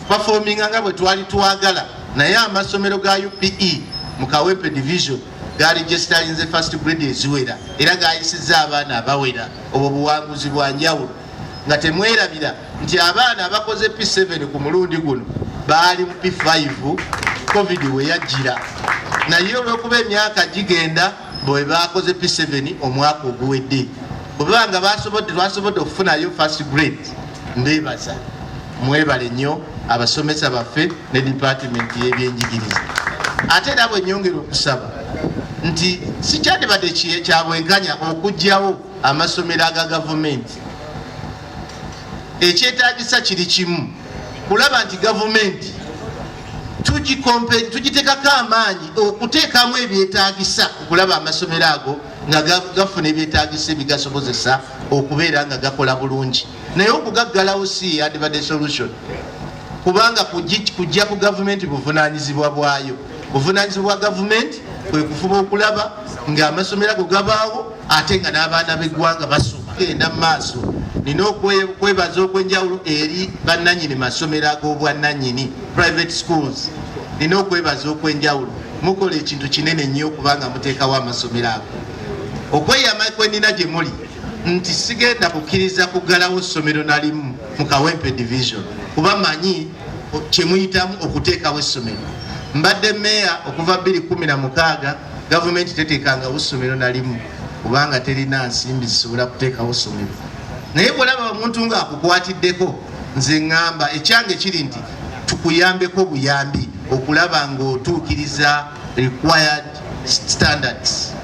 performing nga bwe twali twagala naye amasomero ga UPE mu Kawempe division gaali gesitalinze first grade eziwera era gayisizza abaana abawera obwo buwanguzi bwa njawulo nga temwerabira nti abaana abakoze P7 ku mulundi guno baali mu P5 covid we yajjira naye olw'okuba emyaka gigenda bwe baakoze P7 omwaka oguwedde bwe baba nga basobodde lwasobodde okufunayo first grade mbeebaza mwebale nnyo abasomesa baffe ne dipatimenti y'ebyenjigiriza ate era bwe nyongera okusaba nti sikyandibadde kyabwenkanya okugyawo amasomero aga gavumenti ekyetaagisa kiri kimu kulaba nti gavumenti tugitekako amaanyi okuteekamu ebyetaagisa okulaba amasomero ago nga gafuna ebyetaagisa ebigasobozesa okubeera nga gakola bulungi naye okugaggalawo si yandibadde solution kubanga kujja ku gavumenti buvunanyizibwa bwayo buvunanyizibwa bwa gavumenti kwekufuba okulaba ngaamasomero ago gabaawo ate nga n'abaana b'eggwanga basoma genda mu maaso nina okwebaza okwenjawulo eri bannanyini masomero ag'obwannanyini private schools nina okwebaza okwenjawulo mukola ekintu kinene nnyo okubanga muteekawo amasomero ago okweyama kwenina gye muli nti sigenda kukkiriza kuggalawo ssomero nalimu mu kawempe division kuba manyi kyemuyitamu okuteekawo essomero mbadde meeya okuva 216 gavumenti teteekangawo ssomero nalimu kubanga terina nsimbi zisobola kuteekawo ssomero naye bwolaba omuntu ng'akukwatiddeko nze ŋŋamba ekyange kiri nti tukuyambeko buyambi okulaba ng'otuukiriza required standards